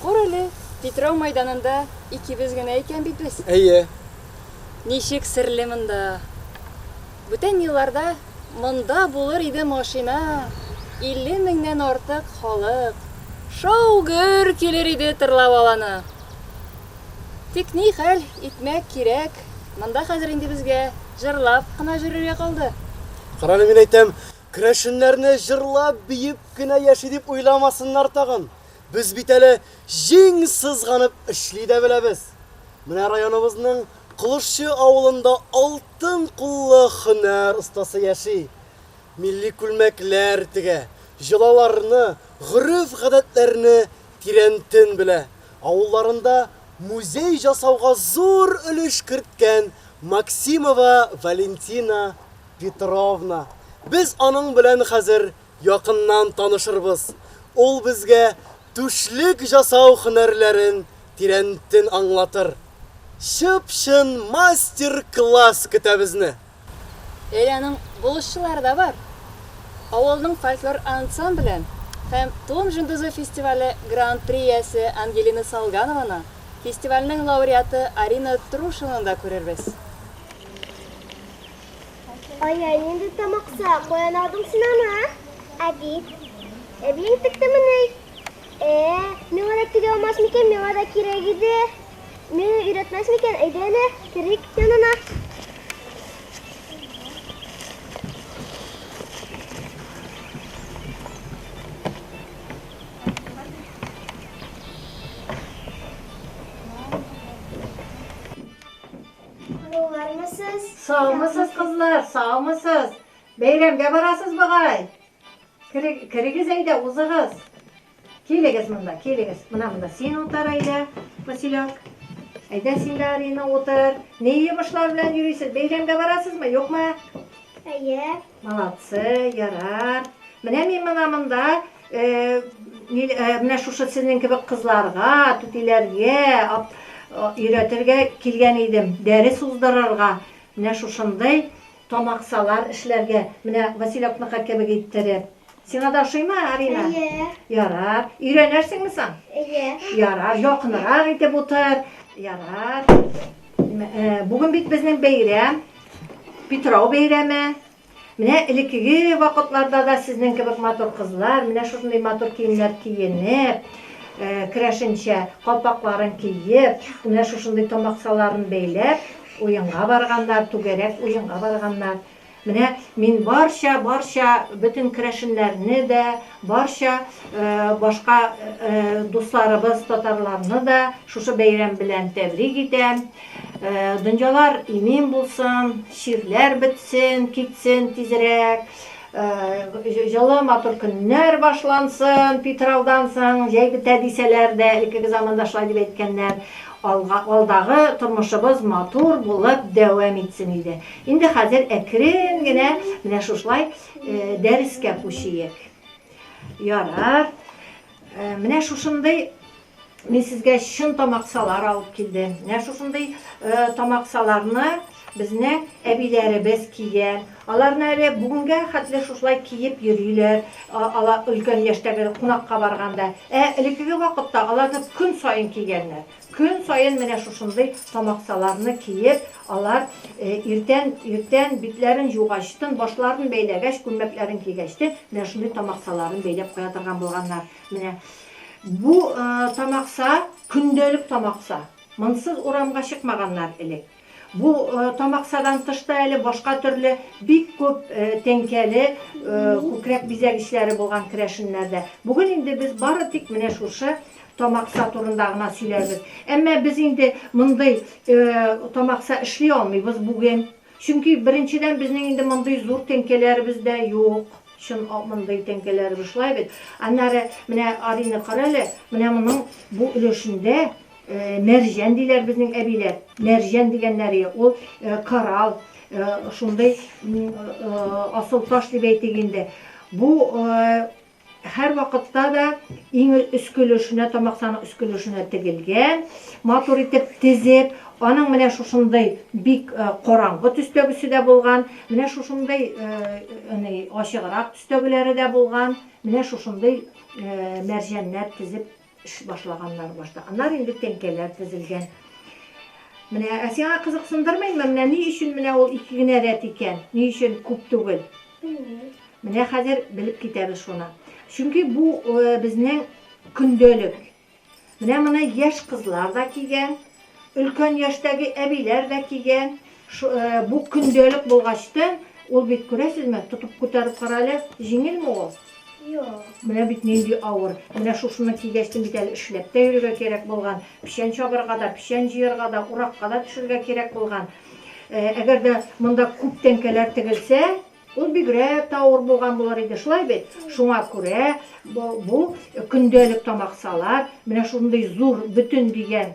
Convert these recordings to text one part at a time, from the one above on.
Кур әле, Питрау мәйданында икебез генә икән бит без. Әйе. Ничек серле монда. Бүтән елларда монда булыр иде машина, илле меңнән артык халык, шау-гөр килер иде тырлап аланы. Тик ни хәл итмәк кирәк, монда хәзер инде безгә җырлап кына җөрергә калды. Карале, мин әйтәм, Керәшеннәрне җырлап, биеп кенә яши дип уйламасыннар тагын. Без бит әле җиң сызганып эшли дә беләбез. Менә районыбызның Колышчы авылында алтын куллы һөнәр остасы яши. Милли күлмәкләр тегә, йолаларны, гореф-гадәтләрне тирәнтен белә. Авылларында музей җасауга зур өлеш керткән Максимова Валентина Петровна. Без аның белән хәзер якыннан танышырбыз. Ул безгә түшлек жасау һөнәрләрен тирәнтен аңлатыр. Чып-чын мастер-класс көтә безне! Әйе, аның булышчылары да бар. Авылның фольклор ансамблен һәм Тон җондызы фестивале гран-при иясе Ангелина Салганованы, фестивальнең лауреаты Арина Трушинаны да күрербез. Ай, ай, нинди тамакса, каян алдың син аны, а? Әби. Әбиең тектеме ни? Ә, миңа да тиге алмас микән, миңа да кирәк иде. Миңа өйрәтмәс микән, әйдә әле, керик янына. Саулармысыз? Саумысыз, кызлар, саумысыз? Бәйрәмгә барасыз бугай. Керегез әйдә, узыгыз. Килегез монда, килегез. Мына монда син утыр әйдә, Василек. Әйдә син дә Арина утыр. Ни йомышлар белән йөрисез? Бәйрәмгә барасызмы, юкмы? Әйе. Молодцы, ярар. Менә мин мына монда Менә шушы сезнең кебек кызларга, түтиләргә өйрәтергә килгән идем, дәрес уздырырга, менә шушындый тамаксалар эшләргә, менә Василёкныкы кебек иттереп. Сиңа да ошыймы, Арина? Әйе. Ярар. Өйрәнерсеңме соң? Әйе. Ярар, якынрак итеп утыр. Ярар. Бүген бит безнең бәйрәм. Питрау бәйрәме. Менә элеккеге вакытларда да сезнең кебек матур кызлар менә шушындый матур киемнәр киенеп, керәшенчә калпакларын киеп, менә шушындый томаксаларын бәйләп, уенга барганнар, түгәрәк уенга барганнар. Менә мин барча, барча бөтен керәшеннәрне дә, Барча башка дусларыбыз татарларны да шушы бәйрәм белән тәбрик итәм. Дөньялар имин булсын, чирләр бетсен, китсен тизрәк. Җылы матур көннәр башлансын, Питраудан соң җәй бетә дисәләр дә, элеккеге заманда шулай дип әйткәннәр. Алдагы тормышыбыз матур булып дәвам итсен иде. Инде хәзер әкрен генә менә шушылай Дәрескә күчиек. Ярар. Менә шушындый мин сезгә чын тамаксалар алып килдем. Менә шушындый тамаксаларны безнең әбиләребез кия. Аларны әле бүгенгә хәтле шушылай киеп йөриләр. Алар өлкән яшьтәге кунакка барганда. Ә элеккеге вакытта аларны көн саен кигәннәр. Көн саен менә шушындый тамаксаларны киеп, алар иртән, иртән битләрен җугачтын, башларын бәйләгәч, күлмәкләрен кигәчтен, менә шундый тамаксаларын бәйләп куя торган булганнар. Менә бу тамакса, көндәлек тамакса. Монсыз урамга чыкмаганнар элек. Бу тамаксадан тыш та әле башка төрле бик күп тәңкәле күкрәк бизәгечләре булган керәшеннәрдә. Бүген инде без бары тик менә шушы тамакса турында гына сөйләрбез. Әмма без инде мондый тамакса эшли алмыйбыз бүген. Чөнки, беренчедән, безнең инде мондый зур тәңкәләребез дә юк. Чын мондый тәңкәләребез, шулай бит? Аннары, менә Арины кара әле, менә моның бу өлешендә Мәрҗән диләр безнең әбиләр. Мәрҗән дигәннәре ул корал, шундый асыл таш дип әйтик инде. Бу һәр вакытта да иң өске өлешенә, тамаксаның өске өлешенә тегелгән, матур итеп тезеп, аның менә шушындый бик э, караңгы төстәгесе дә булган, менә шушындый э, ачыграк төстәгеләре дә булган, менә шушындый э, мәрҗәннәр тезеп Эш башлаганнар башта. Аннары инде тәңкәләр тезелгән. Менә, ә сиңа кызыксындырмыймы, менә ни өчен менә ул ике генә рәт икән? Ни өчен күп түгел? Менә хәзер белеп китәбез шуны. Чөнки бу э, безнең көндәлек. Менә моны яшь кызлар да кигән, Өлкән яшьтәге әбиләр дә кигән. Бу көндәлек булгачтын, ул бит, күрәсезме, тотып күтәреп кара әле, җиңелме ул? Юк. Менә бит нинди авыр. Менә шушыны кигәчтен бит әле эшләп тә йөрергә кирәк булган. Печән чабарга да, печән җыярга да, уракка да төшергә кирәк булган. Әгәр дә монда күп тәңкәләр тегелсә, Ул бигрәк тә авыр булган булыр иде, шулай бит? Шуңа күрә бу көндәлек тамаксалар менә шундый зур бөтен дигән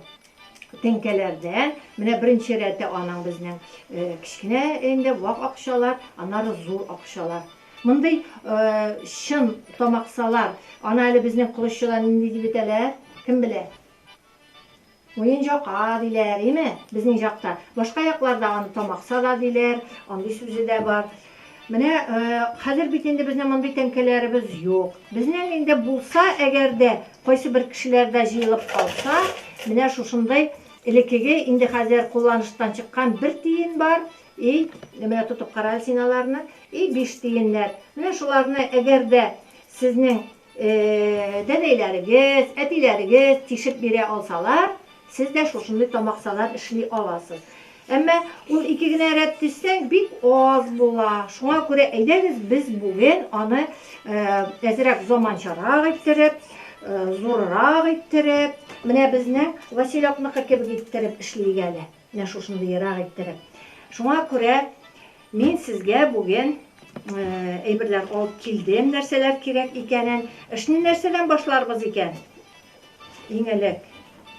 теңкәләрдән, менә беренче рәте аның безнең кечкенә инде вак акчалар, аннары зур акчалар. Мондый чын тамаксалар, аны әле безнең колоччыда нинди дип әйтәләр, кем белә? Муенҗака диләр, име? Безнең җакта. Башка якларда аны тамакса да диләр, андый сүзе дә бар. Менә хәзер бит инде безнең мондый тәңкәләребез юк. Безнең инде булса, әгәр дә кайсы бер кешеләрдә җыелып калса, менә шушындый элеккеге инде хәзер кулланыштан чыккан бер тиен бар, и менә тотып кара әле син аларны, и биш тиеннәр. Менә шуларны әгәр дә сезнең Дәдәйләрегез, әтиләрегез тишеп бирә алсалар, сез дә шушындый тамаксалар эшли аласыз. Әмма ул ике генә рәт дисәң, бик аз була. Шуңа күрә әйдәгез без бүген аны әзрәк заманчарак иттереп, зуррак иттереп, менә безнең Василёкныкы кебек иттереп эшлик әле. Менә шушындый ерак иттереп. Шуңа күрә мин сезгә бүген әйберләр алып килдем, нәрсәләр кирәк икәнен. Эшне нәрсәдән башларбыз икән? Иң элек,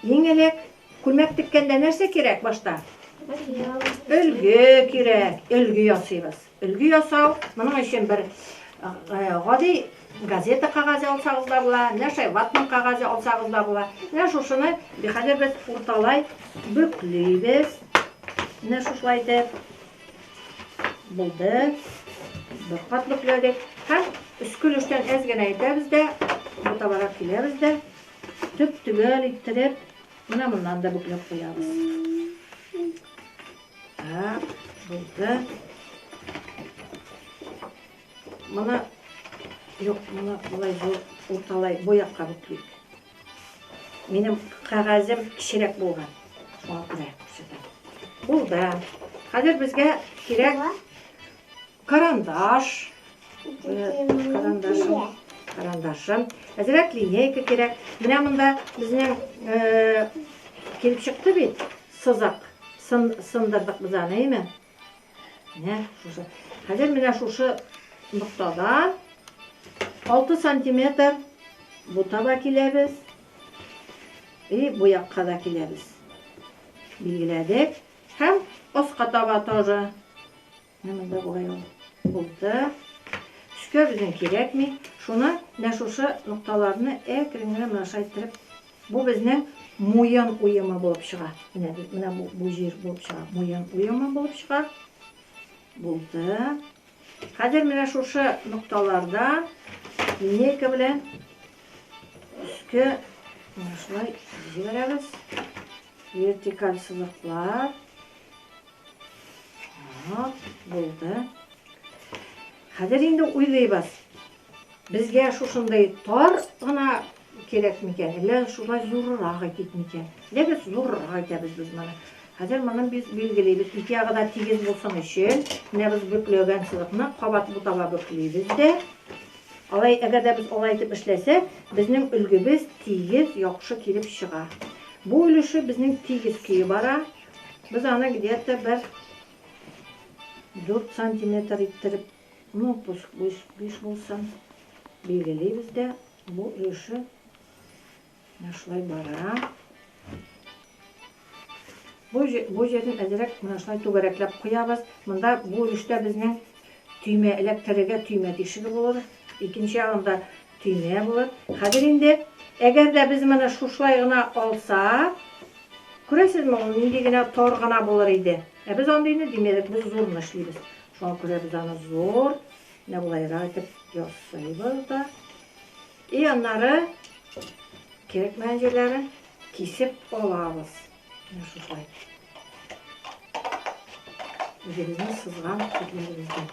иң элек күлмәк теккәндә нәрсә кирәк башта? Өлге кирәк, өлге ясыйбыз. Өлге ясау, моның өчен бер гади газета кагазе алсагыз да була, менә шулай ватман кагазе алсагыз да була. Менә шушыны хәзер без урталай бөклибез. Менә шушылай итеп булды. Бер кат бөкләдек һәм өске өлештән әз генә итәбез дә, бутабарак киләбез дә, төп-төгәл иттереп, менә моннан да бөкләп куябыз. Так, булды. Моны, юк, моны былай бу, урталай, бу якка бүклик. Минем кәгазем кечерәк булган. Шуңа күрә күрсәтәм. Булды. Хәзер безгә кирәк Карандаш. Карандашым. Карандашым. Әзрәк линейка кирәк. Менә монда безнең э, килеп чыкты бит. Сызак. Сын, сындырдык без аны, әйме? Менә шушы. Хәзер менә шушы ноктадан 6 сантиметр бу таба киләбез. И бу якка да киләбез. Билгеләдек. Һәм аска таба тоже Менә монда болай ул булды. Төскә безнең кирәкми. Шуны менә шушы нокталарны әкрен генә менә шулай иттереп, бу безнең муен уемы булып чыга. Менә менә бу, бу җир булып чыга. Муен уемы булып чыга. Булды. Хәзер менә шушы нокталарда линейка белән өскә менә шулай җибәрәбез. Вертикаль сызыклар. Так, булды. Хәзер инде уйлыйбыз. Безгә шушындай тар гына кирәк микән? Әллә шулай зуррак әйтик микән? Дәбез зуррак әйтәбез без моны. Хәзер моны без билгелибез. Ике ягы да тигез булсын өчен, менә без бөкләгән сызыкны кабат бутала бөклибез дә. Алай, әгәр дә без алай итеп эшләсәк, безнең өлгебез тигез, яхшы килеп чыга. Бу өлеше безнең тигез көе бара. Без аны где-то бер дүрт сантиметр иттереп, ну, пусть биш булсын, билгелибез дә, бу өлеше менә шулай бара. Бу бу җирен әзрәк менә шулай түгәрәкләп куябыз. Монда бу өлештә безнең төймә эләктерергә төймә тишеге булыр. Икенче ягында Тиле булып. Хәзер инде, әгәр дә без моны шушылай гына алсак, күрәсезме, ул нинди генә тар гына булыр иде. Ә без андыйны димәдек, без зурны эшлибез. Шуңа күрә без аны зур, менә болайрак итеп ясыйбыз да. И аннары кирәкмәгән җирләрен кисеп алабыз. Менә шулай. Үзебезнең сызган этләребездән.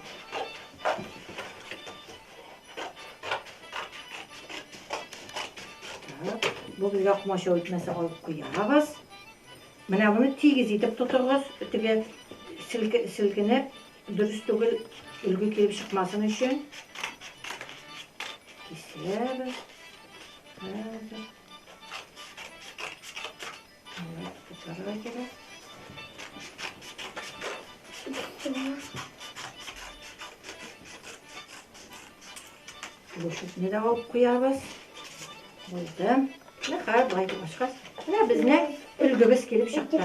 Бу безгә комачау итмәсә алып куябыз. Менә моны тигез итеп тотыгыз, теге селкенеп, дөрес түгел өлге килеп чыкмасын өчен. Кисәбез. Хәзер. Тутарга кирәк. Бушетне дә алып куябыз. Булды. Нәхәр былай башка. Менә безнең өлгебез килеп чыкты.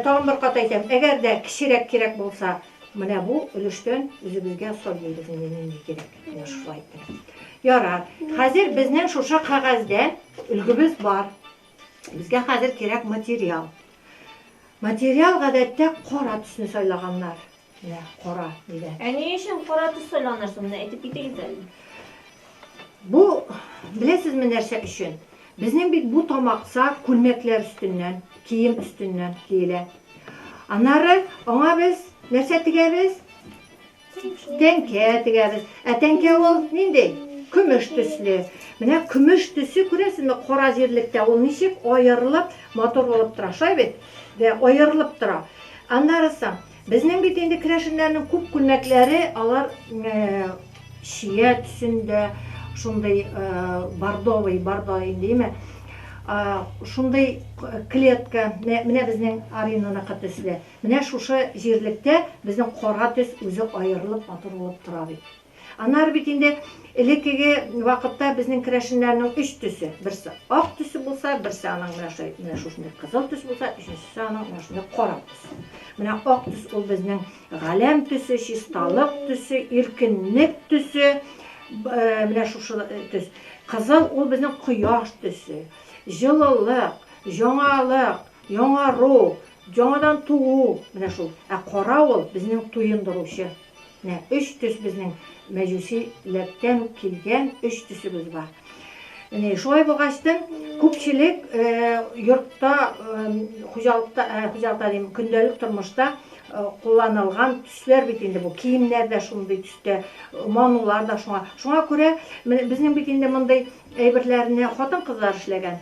Тагын бер кат әйтәм, әгәр дә кечерәк кирәк булса, Менә бу өлештән үзебезгә сал җыйдык инде нинди кирәк, менә шулай итеп. Ярар. Хәзер безнең шушы кәгазьдә өлгебез бар. Безгә хәзер кирәк материал. Материал гадәттә кара төсне сайлаганнар. Менә кара дигән. Ә ни өчен кара төс сайланыр соң, менә әйтеп китегез әле. Бу, беләсезме нәрсә өчен? Безнең бит бу тамакса күлмәкләр өстеннән, кием өстеннән киелә. Аннары аңа без нәрсә тегәбез? Тәңкә тегәбез. Ә тәңкә ул нинди? Көмеш төсле. Менә көмеш төсе, күрәсезме, кара җирлектә ул ничек аерылып, матур булып тора. Шулай бит? Дә, аерылып тора. Аннарысы, Безнең бит инде керәшеннәрнең күп күлмәкләре, алар чия төсендә, шундый бордовый, бордо димме, шундый клетка, менә безнең Аринаныкы төсле. Менә шушы җирлектә безнең кара төс үзе аерылып, матур булып тора бит. Анар бит инде элеккеге вакытта безнең керәшеннәрнең өч төсе. Берсе ак төсе булса, берсе аның менә шулай, менә шушындый кызыл төс булса, өченчесе аның менә шундый кара төс. Менә ак төс ул безнең галәм төсе, чисталык төсе, иркенлек төсе. Э, менә шушы э, төс. Кызыл ул безнең кояш төсе. Җылылык, җаңалык, яңару, яңадан туу, менә шул. Ә кара ул безнең туендыручы Менә өч төс безнең мәҗүси ләрдтән үк килгән өч төсебез бар. Менә шулай булгачтын, күпчелек йортта, хуҗалыкта, хуҗалыкта дим, көндәлек тормышта кулланылган төсләр бит инде бу. Киемнәр дә шундый төстә, манулар да шуңа. Шуңа күрә безнең бит инде мондый әйберләрне хатын-кызлар эшләгән.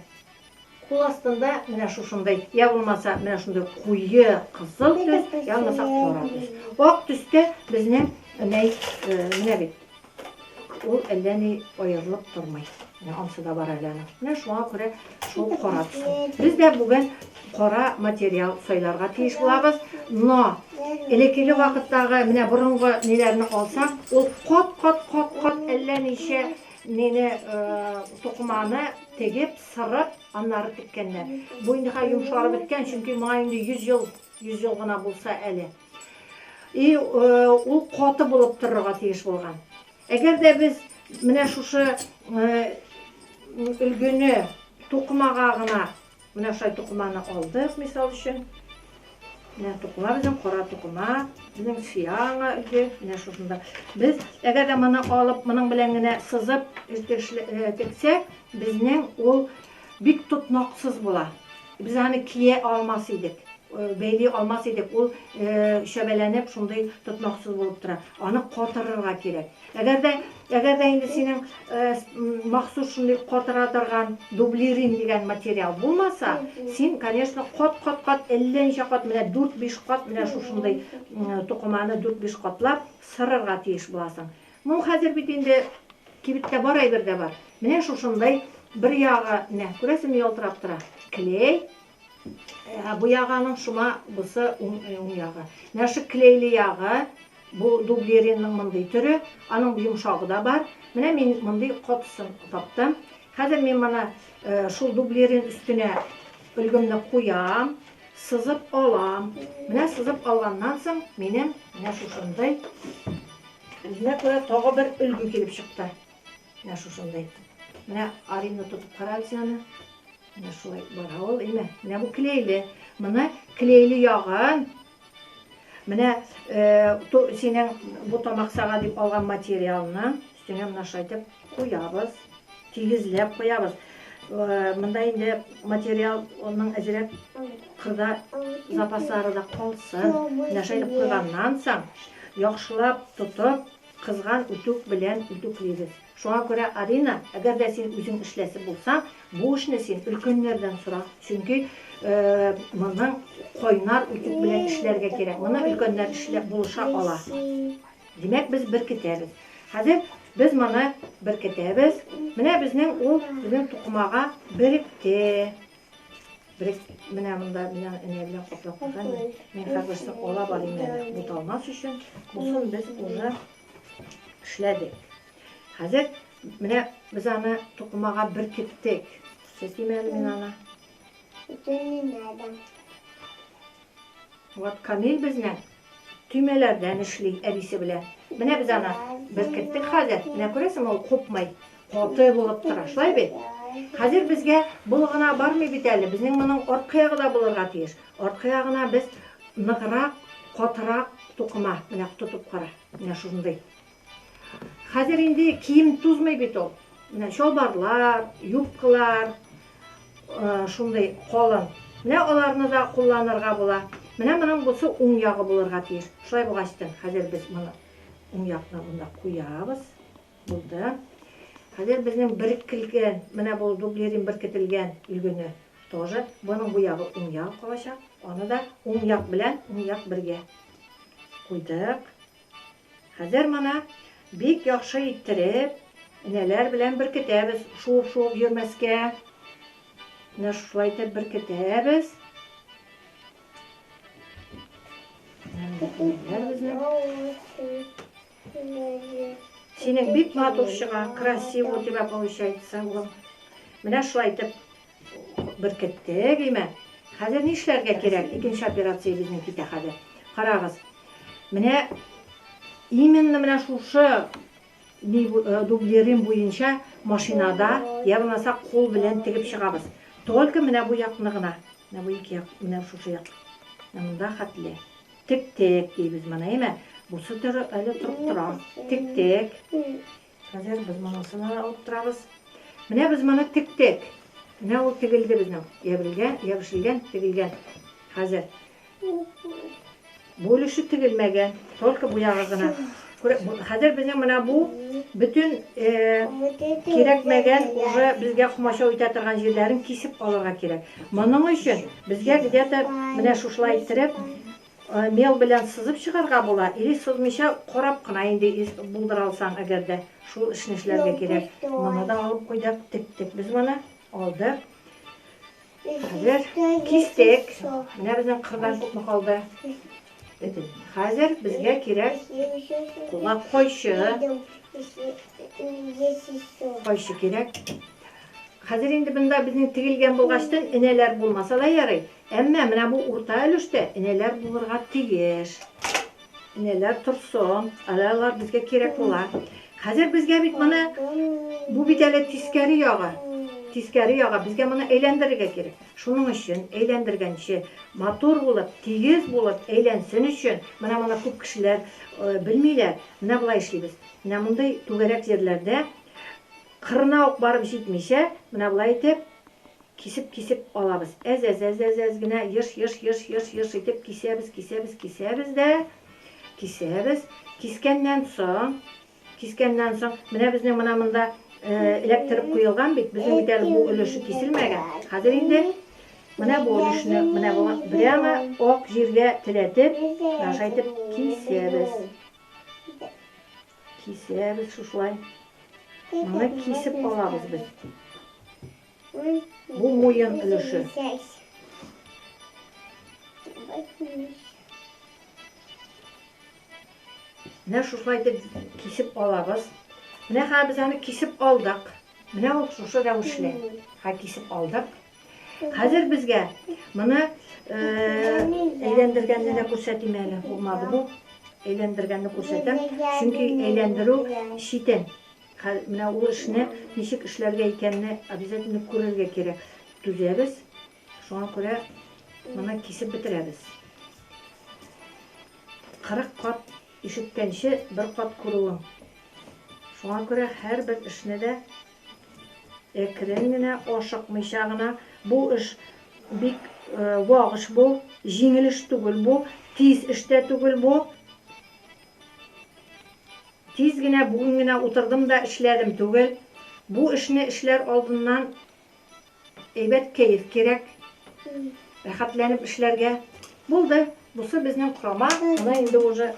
Кул астында менә шушындый, я булмаса менә шундый куе кызыл төс, я булмаса кара төс. Ак төстә безнең мәй менә бит. Ул әллә ни аерылып тормый. Менә ансы да бар әле аның. Менә шуңа күрә шул кара төс. Без дә бүген кара материал сайларга тиеш булабыз. Но элеккеге вакыттагы менә борынгы ниләрне алсак, ул кат-кат-кат-кат әллә ничә Нене тукыманы тегеп, сырып, аннары теккәннәр. Бу инде хәзер йомшарып беткән, чөнки моңа инде 100 ел, 100 ел гына булса әле. И ул каты булып торырга тиеш булган. Әгәр дә без менә шушы өлгене тукымага гына Менә шулай тукыманы алдык, мисал өчен. Менә тукыма безнең кара тукыма, безнең сиана үзе, менә шушында. Без әгәр дә моны алып, моның белән генә сызып тексәк, безнең ул бик тотнаксыз була. Без аны кия алмас идек, бәйли алмас идек. Ул чәбәләнеп, шундый тотнаксыз булып тора. Аны катырырга кирәк. Әгәр дә, әгәр дә инде синең э, махсус шундый катыра торган дублирин дигән материал булмаса, син, конечно, кат-кат-кат, әллә ничә кат, менә 4-5 кат, менә шушындый э, тукыманы 4-5 катлап сырырга тиеш буласың. Моң хәзер бит инде кибеттә бар әйбер дә бар. Менә шушындай бер ягы, менә күрәсең ялтырап тора. Клей, Ә бу ягы аның шома, бусы уң, э, уң ягы. Менә шу клейле ягы, бу дублеринның мондый төре, аның йомшагы да бар. Менә мин мондый котысын таптым. Хәзер мин моны э, шул дублерин өстенә өлгемне куям, сызып алам. Менә сызып алганнан соң минем менә шушындый үзенә күрә тагы бер өлге килеп чыкты. Менә шушындый. Менә Арина тотып кара әле син аны. Менә шулай бара ул, әйме. Менә бу клейле. Моны клейле ягын. Менә э, ту, синең бу тамак сага дип алган материалны өстенә менә шайтып куябыз. Тигезләп куябыз. Э, монда инде материал оның әзерәк кырда запаслары да калсын. Менә шайтып куйганнан соң яхшылап тотып Кызган үтүк белән үтүклибез. Шуңа күрә, Арина, әгәр дә син үзең эшләсе булсаң, бу эшне син өлкәннәрдән сора. Чөнки моны кайнар үтүк белән эшләргә кирәк. Моны өлкәннәр эшләп булыша ала. Димәк, без беркетәбез. Хәзер без моны беркетәбез. Менә безнең ул безнең тукымага беректе. Берек менә монда мина энә белән каплап куйган. Мин хәзерсен ала барыйм әле. Буталмас өчен бусын без уже эшләдек. Хәзер менә без аны тукымага беркеттек. Сәсимә мин аны. Вот Камил безнең Төймәләрдән эшли әбисе белән. Менә без аны беркеттек хәзер. Менә күрәсеңме, ул купмый. Каты булып тора, шулай бит? Хәзер безгә бул гына бармый бит әле. Безнең моның арткы ягы да булырга тиеш. Арткы ягына без ныграк, катырак тукыма, менә тотып кара. Менә шундый. Хәзер инде кием тузмый бит ул. Менә чалбарлар, юбкалар, шундый калын. Менә аларны да кулланырга була. Менә моның бусы уң ягы булырга тиеш. Шулай булгач та, хәзер без моны уң якны монда куябыз. Булды. Хәзер безнең беркелгән, менә бу дублерин беркетелгән өлгене тоже. Моның бу ягы уң як калачак. Аны да уң як белән уң як бергә куйдык. Хәзер моны бик яхшы иттереп, энәләр белән беркетәбез, шуып-шуып йөрмәскә. Менә шулай итеп беркетәбез. Синең бик матур чыга, красиво у тебя получается, улым. Менә шулай итеп Беркеттек, имә. Хәзер нишләргә кирәк? Икенче операция безнең китә хәзер. Карагыз. Менә именно менә шушы э, дублерим буенча машинада я булмаса кул белән тегеп чыгабыз. Только менә бу якны гына. Менә бу ике як, менә шушы як. Монда хәтле. Тик-тек дибез моны, әйме? Бусы әле торып тора. Тик-тек. Хәзер без монысына да алып торабыз. Менә без моны тектек. Менә ул тегелде безнең. Ябрилгән, ябышылган, тегелгән. Хәзер. Бу өлеше тегелмәгән, только бу ягы гына. Хәзер безнең менә бу бөтен э, кирәкмәгән уже безгә комачау итә торган җирләрен кисеп алырга кирәк. Моның өчен безгә где-то менә шушылай иттереп Мел белән сызып чыгарга була, или сызмыйча карап кына инде ис булдыра алсаң әгәр дә, шул эшне эшләргә кирәк. Моны да алып куйдык, тектек без моны, алдык. Хәзер кистек. Менә безнең кырдан күпме калды? Бетен. Хәзер безгә кирәк кулак койчы. Койчы кирәк. Хәзер инде бында безнең тегелгән булгачтын энәләр булмаса да ярый. Әмма менә бу урта өлештә энәләр булырга тиеш. Энәләр торсын, әле алар безгә кирәк була. Хәзер безгә бит моны бу бит әле тискәре ягы. Тискәре ягы безгә моны әйләндерергә кирәк. Шуның өчен әйләндергәнче матур булып, тигез булып әйләнсен өчен, менә моны күп кешеләр э, белмиләр. Менә болай эшлибез. Менә мондый түгәрәк җирләрдә кырына ук барып җитмичә, менә болай итеп Кисеп кисеп алабыз. Әз-әз-әз-әз-әз генә еш-еш-еш-еш-еш итеп кисәбез, кисәбез, кисәбез дә кисәбез. Кискәннән соң, кискәннән соң, менә безнең мына монда эләктереп куелган бит, безнең бит әле бу өлеше киселмәгән. Хәзер инде менә бу өлешне, менә бу прямо ак җиргә теләтеп, наша итеп кисәбез. Кисәбез шушылай. Моны кисеп алабыз без. Бу муен өлеше. Менә шушылай итеп кисеп алабыз. Менә хәзер без аны кисеп алдык. Менә ул шушы рәвешле. Хәзер кисеп алдык. Хәзер безгә моны әйләндергәнне дә күрсәтим әле. Булмады бу. Әйләндергәнне күрсәтәм. Чөнки әйләндерү читен. Хәзер менә ул эшне ничек эшләргә икәнне обязательно күрергә кирәк. Түзәбез, шуңа күрә моны кисеп бетерәбез. Кырык кат ишеткәнче бер кат күрүең. Шуңа күрә һәрбер эшне дә әкрен генә, ашыкмыйча гына, бу эш бик вак эш бу, җиңел эш түгел бу, тиз эш тә түгел бу. Тиз генә бүген генә утырдым да эшләдем түгел. Бу эшне эшләр алдыннан әйбәт кәеф кирәк. Рәхәтләнеп эшләргә. Булды. Бусы безнең корама. Моны инде уже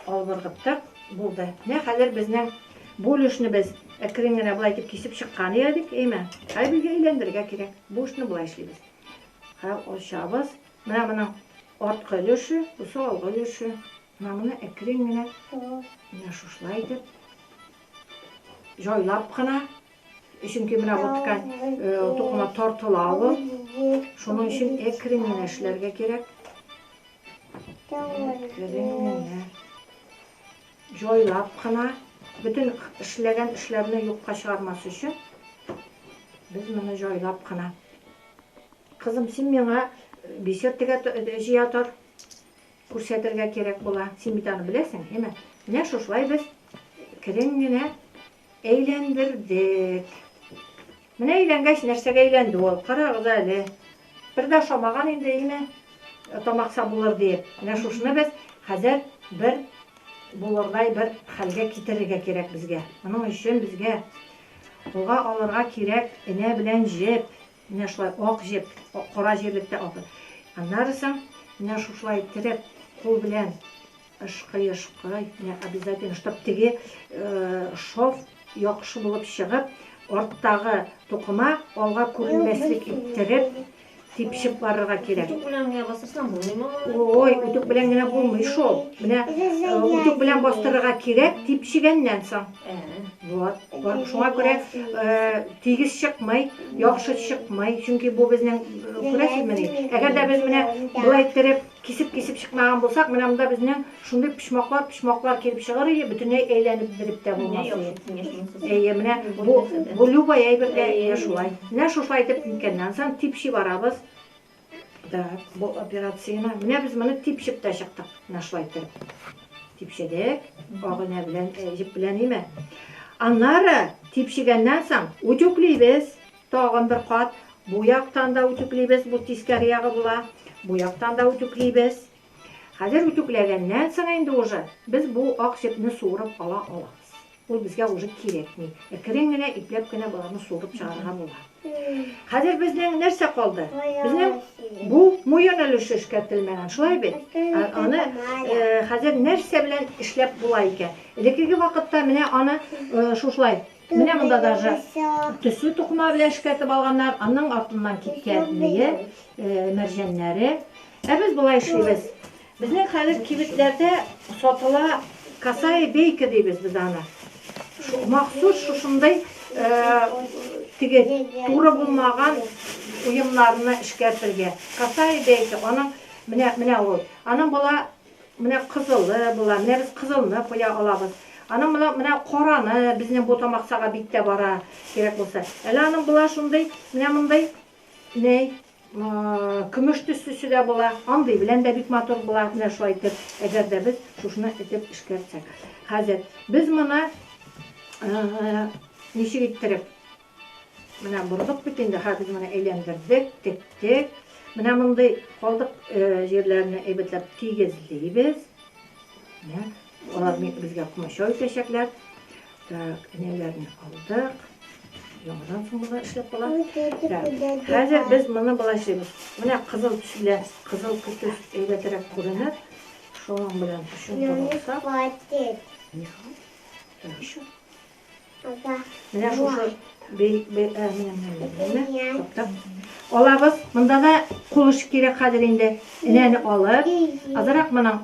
алып ыргыттык. Булды. Менә хәзер безнең бу өлешне без әкрен генә болай итеп кисеп чыккан идек, әйме? Хәзер безгә әйләндерергә кирәк. Бу эшне болай эшлибез. Хәл ачабыз. Менә моның арткы өлеше, бусы алгы өлеше. Намны әкрен генә, менә шушылай итеп, җайлап кына, чөнки менә бу ткань тукыма тартыла ул. Шуның өчен әкрен генә эшләргә кирәк. Әкрен генә. Җайлап кына, бөтен эшләгән эшләрне юкка чыгармас өчен без моны җайлап кына. Кызым, син миңа бисер тегә җыя тор. Күрсәтергә кирәк була. Син бит аны беләсең, әйме? Менә шушылай без керен генә әйләндердек. Менә әйләнгәч, нәрсәгә әйләнде ул? Карагыз әле. Бер дә ошамаган инде, әйме? Тамакса булыр диеп. Менә шушыны без хәзер бер булырдай бер хәлгә китерергә кирәк безгә. Моның өчен безгә уга алырга кирәк энә белән җеп. Менә шулай ак җеп, кара җирлектә ак. Аннары соң менә шушылай иттереп, кул белән ышкый-ышкый, менә обязательно, чтоб теге шов яхшы булып чыгып, арттагы тукыма алга күренмәслек иттереп, типчеп барырга кирәк. Үтүк белән генә бастырсаң булмыймы? Ой, үтүк белән генә булмый шул. Менә үтүк белән бастырырга кирәк, типчегәннән соң. Вот, вот шуңа күрә тигез чыкмый, яхшы чыкмый, чөнки бу безнең күрәсезмени. Әгәр дә без менә болай иттереп кисеп-кисеп чыкмаган булсак, менә монда безнең шундый пишмаклар, пишмаклар килеп чыгыр иде, бөтенләй әйләнеп биреп тә булмас иде. Әйе, менә бу бу любой әйбергә шулай. Менә шушылай итеп ниткәннән соң типши барабыз. Да, бу операцияне, менә без моны типчеп тә чыктык, менә шулай итеп. Типчедек, агына белән, э, җеп белән име. Аннары типчегәннән соң үтүклибез, тагын бер кат. Бу яктан да үтүклибез, бу тискәре ягы була. Бу яктан да үтүклибез. Хәзер үтүкләгәннән соң инде уже без бу ак сөтне суырып ала алабыз. Ул безгә уже кирәкми. Әкрен генә, ипләп кенә боларны суырып чыгарырга була. Хәзер безнең нәрсә калды? Безнең бу муен өлеше эшкәртелмәгән, шулай бит? Ә, аны э, хәзер нәрсә белән эшләп була икән? Элеккеге вакытта менә аны э, шушылай Менә монда даже төсле тукыма белән эшкәртеп алганнар, аның артыннан киткән мие, мәрҗәннәре. Ә без болай эшлибез. Безнең хәзер кибетләрдә сатыла касая бейка дибез без аны. Махсус шушындый теге туры булмаган уемнарны эшкәртергә. Касая бейка, аның менә менә ул. Аның була Менә кызылы була, менә без кызылны куя алабыз. Аның моны менә караны, безнең бу тамаксага биттә бара, кирәк булса. Әле аның була шундый, менә мондый, ней, көмеш төслесе дә була. Андый белән дә бик матур була, менә шулай итеп, әгәр дә без шушны итеп эшкәртсәк. Хәзер без моны ничек иттереп? Менә бордык бит инде, хәзер менә әйләндердек, тектек. Менә мондый калдык җирләрне әйбәтләп тигезлибез. Менә алар безгә комачау итәчәкләр. Так, энәләрне алдык. Яңадан соң болар эшләп кала. Хәзер без моны болай эшлибез. Менә кызыл төс белән, кызыл көтүс әйбәтрәк күренә. Шуның белән төшен торса. Еще. Менә шушы алабыз. Монда да кул эше кирәк хәзер инде. Энәне алып, азрак моның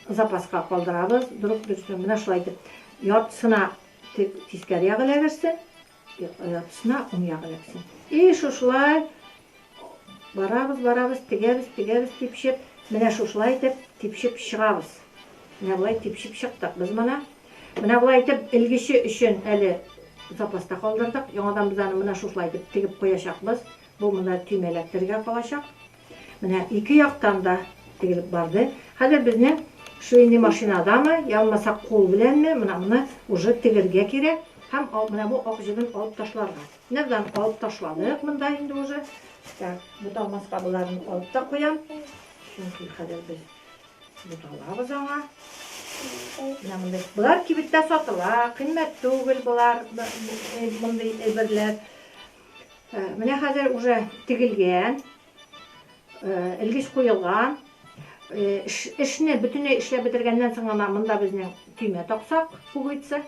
запаска калдырабыз. Дөрүк дөрестән менә шулай итеп. Яртысына тискәре ягы эләгерсен, яртысына уң ягы эләгерсен. И шушылай Барабыз, барабыз, тегәбез, тегәбез, типчеп, менә шушылай итеп типчеп чыгабыз. Менә болай типчеп чыктык без моны. Менә болай итеп элгече өчен әле запаста калдырдык. Яңадан без аны менә шушылай итеп тегеп куячакбыз. Бу монда төймә эләктерергә калачак. Менә ике яктан да тегелеп барды. Хәзер безнең швейный машинадамы, я булмаса кул беләнме, менә моны уже тегергә кирәк һәм менә бу ак җебен алып ташларга. Нәрдан алып ташладык монда инде уже. Так, буталмас кабыларын алып та куям. Чөнки хәзер без буталабыз аңа. Болар кибеттә сатыла, кыйммәт түгел болар, мондый әйберләр. Менә хәзер уже тегелгән, элгеч куелган. Эшне бөтенләй эшләп бетергәннән соң гына монда безнең төймә таксак, пуговица.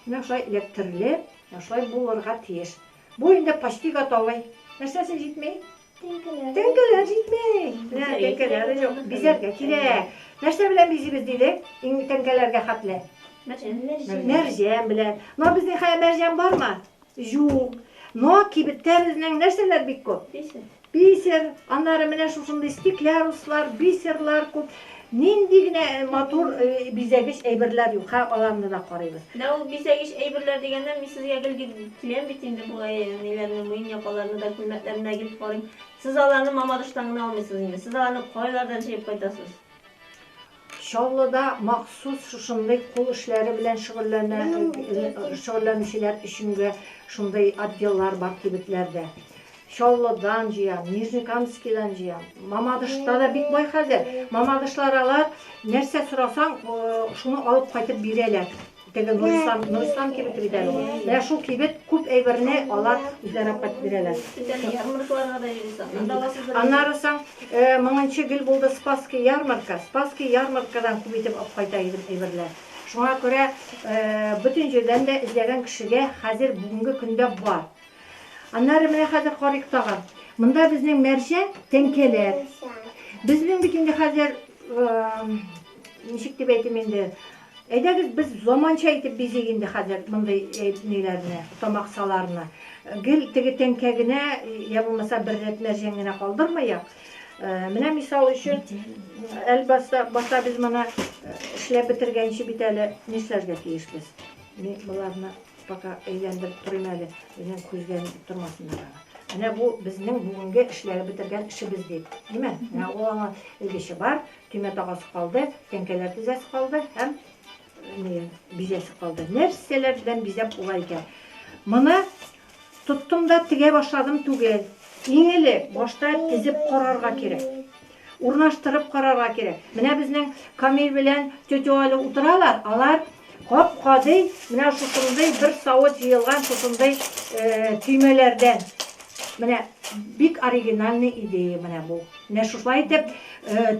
Менә шулай эләктерелеп, менә шулай булырга тиеш. Бу инде почти готовый. Нәрсәсе җитми? Теңкәләр. Теңкәләр җитми. Менә теңкәләр юк. Бизәргә кирәк. Нәрсә белән бизибез дидек? Иң теңкәләргә хәтле. Мәрҗән. Мәрҗән белән. Но безнең хәя мәрҗән бармы? Җук. Но кибеттә безнең нәрсәләр бик күп? Бисер. Бисер. Аннары менә шушындый стекляруслар, бисерлар күп. Нинди генә матур бизәгеч әйберләр юк, ха, аларны да карыйбыз. Менә ул бизәгеч әйберләр дигәндә, мин сезгә гел киләм бит инде болай, әниләрне, муен якаларны да, күлмәкләрне дә гел карыйм. Сез аларны Мамадыштан гына алмыйсыз инде. Сез аларны кайлардан җыеп кайтасыз? Чаллыда махсус шушындый кул эшләре белән шөгыльләнүчеләр өчен дә шундый отделлар бар кибетләрдә. Чаллыдан җыям, Нижнекамскидан җыям. Мамадышта да бик бай хәзер. Мамадышлар алар нәрсә сорасаң, шуны алып кайтып бирәләр. Теге Нурислам, Нурислам кибете бит әле ул. Менә шул кибет күп әйберне алар үзләре апат бирәләр. Ярмаркаларга да йөрисең. Анда аласыз бер. Аннары соң э, мыңынчы гел булды Спасский ярмарка. Спасский ярмаркадан күп итеп алып кайта идем әйберләр. Шуңа күрә э, бөтен җирдән дә эзләгән кешегә хәзер бүгенге көндә бар. Аннары менә хәзер карыйк тагын. Монда безнең мәрҗә тәңкәләр. Безнең бит инде хәзер э, ничек дип әйтим инде, Әйдәгез без заманча итеп бизик инде хәзер мондый ниләрне, тамаксаларны. Гел теге тәңкә генә я булмаса бер рәт мәрҗән генә калдырмыйк. Менә мисал өчен, әлбәттә, башта без моны эшләп бетергәнче бит әле нишләргә тиешбез? Мин боларны пока әйләндереп торыйм әле, минем күзгә нитеп тормасыннар аны. Менә бу безнең бүгенге эшләп бетергән эшебез дип. Димә, менә ул аңа элгече бар, Төймә тагасы калды, тәңкәләр тезәсе калды һәм бизәсе калды. Нәрсәләр белән бизәп була икән? Моны тоттым да тегә башладым түгел. Иң элек башта тезеп карарга кирәк. Урнаштырып карарга кирәк. Менә безнең Камил белән тетя Аля утыралар, алар Кап-кадый менә шушындый бер савыт җыелган шушындый төймәләрдән. Менә бик оригинальный идея менә бу. Менә шушылай итеп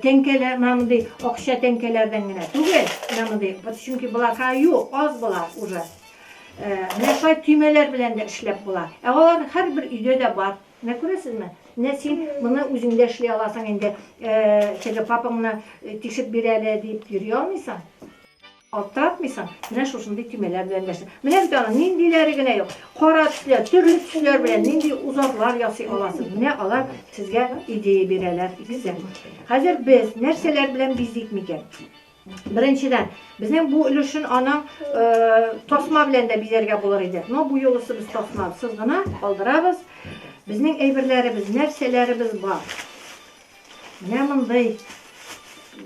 тәңкәләр, менә мондый акча тәңкәләрдән генә түгел, менә мондый, чөнки болар хәю, аз болар уже. Менә шулай төймәләр белән дә эшләп була. Ә алар һәрбер өйдә дә бар. Менә күрәсезме? Менә син моны үзеңдә эшли аласың инде. Теге папаңны тишеп бир әле дип йөри алмыйсың. Аптыратмыйсың, менә шушындый төймәләр белән дәшә. Менә бит аның ниндиләре генә юк. Кара төсләр, төрле төсләр белән нинди узарлар ясый аласыз. Менә алар сезгә идея бирәләр икесе. Хәзер без нәрсәләр белән бизик микән? Беренчедән, безнең бу өлешен аның э, тасма белән дә бизәргә булыр иде. Но бу юлысы без тасмасыз гына калдырабыз. Безнең әйберләребез, нәрсәләребез бар? Менә мондый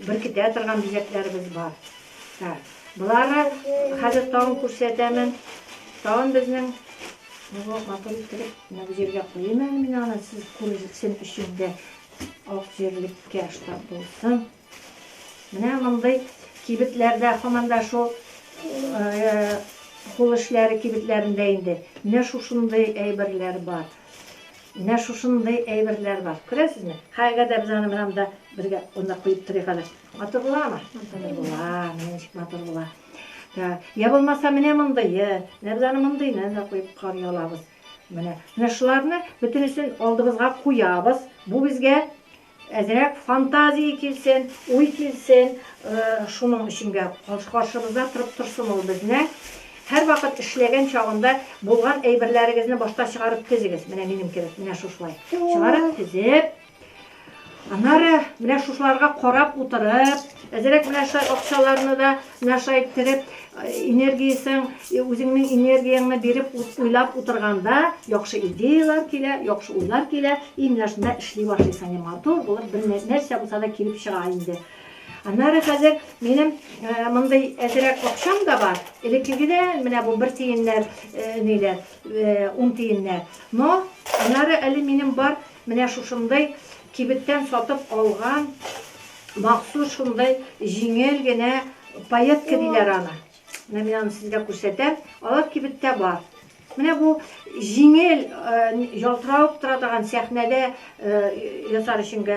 беркетә торган бизәкләребез бар. Так. Болары хәзер тагын күрсәтәмен. Тагын безнең Бу матур иттереп, менә бу җиргә куйыйм әле мин аны, сез күрсен өчен дә ак җирлеккә штаб булсын. Менә мондый кибетләрдә һаман да шул кул эшләре кибетләрендә инде. Менә шушындый әйберләр бар. Менә шушындый әйберләр бар. Күрәсезме? Һәр әгәр дә без аны менә монда бергә урында куеп торыйк әле. Матур буламы? Матур була, менә ничек матур була. Так, я булмаса менә мондые. Менә без аны мондыйны да куеп карый алабыз. Менә, менә шуларны бөтенесен алдыбызга куябыз. Бу безгә Әзрәк фантазия килсен, уй килсен, шуның өчен дә каршыбызда торып торсын ул безне. Һәрвакыт эшләгән чагында булган әйберләрегезне башта чыгарып тезегез. Менә минем кебек, менә шушылай. Чыгарып тезеп, Аннары менә шушыларга карап утырып, әзрәк менә шулай акчаларны да Нәрсә иттереп энергиясен, үзеңнең энергияңне биреп уйлап утырганда, яхшы идеяләр килә, яхшы уйлар килә, и менә шунда эшли башлыйсың, и матур булып бер нәрсә булса да килеп чыга инде. Аннары хәзер минем мондый әзерәк акчам да бар. Элеккегедән менә бу бер тиеннәр, ниләр, ун тиеннәр. Но аннары әле минем бар Менә шушындый кибеттән сатып алган махсус шундый җиңел генә паетка диләр аны. Менә мин аны сезгә күрсәтәм. Алар кибеттә бар. Менә бу җиңел ялтыравык тора торган сәхнәдә ясар өченгә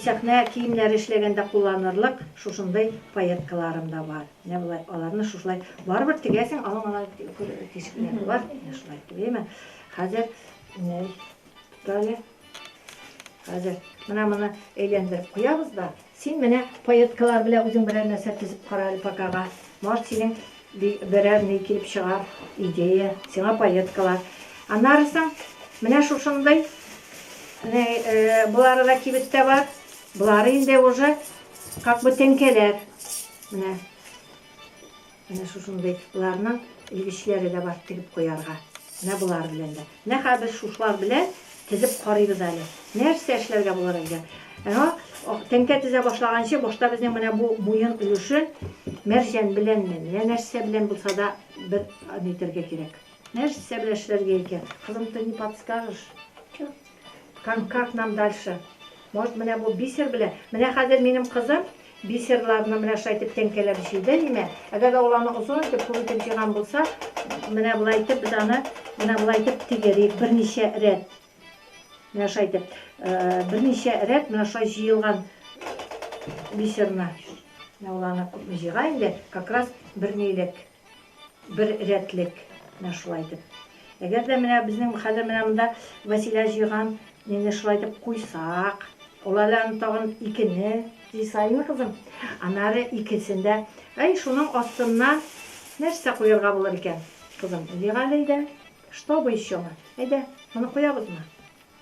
сәхнә киемнәре эшләгәндә кулланырлык шушындый паеткаларым да бар. Менә болай аларны шушылай барыбер тегәсең, аның ана тишекләре бар. Менә шулай тегәме. Хәзер Далее. Хәзер менә моны әйләндереп куябыз да, син менә поеткалар белән үзең берәр нәрсә төзеп кара әле покага. Мар синең берәр ни килеп чыгар, идея, сиңа поеткалар. Аннарысын менә шушындый менә э, болары да кибеттә бар. Болары инде уже как бы тәңкәләр. Менә Менә шушындый ларның элгечләре дә бар тегеп куярга. Менә болар белән дә. Менә хәзер шушылар белән тезеп карыйбыз әле. Нәрсә эшләргә булыр икән? Әнә тәңкә тезә башлаганчы башта безнең менә бу муен өлешен мәрҗән беләнме, менә нәрсә белән булса да бер нитергә кирәк. Нәрсә белән эшләргә икән? Кызым, ты не подскажешь? Как, как нам дальше? Может, менә бу бисер белән? Менә хәзер минем кызым Бисерларны менә шулай итеп тәңкәләп җыйды, димә. Әгәр дә ул аны озын итеп, күп итеп җыйган булса, менә болай итеп без аны менә болай итеп тигерик, берничә рәт. Менә шулай итеп, берничә рәт менә шулай җыелган бисерны. Менә ул аны күпме җыйган инде, как раз бернилек. Бер рәтлек менә шулай итеп. Әгәр дә менә безнең хәзер менә монда Вәсилә җыйган нене шулай итеп куйсак, ул әле аны тагын икене җый саен кызым, аннары икесен дә Әй, шуның астына нәрсә куярга булыр икән, кызым? Җыйгале әйдә. Что бы еще мы? Әйдә, моны куябызмы?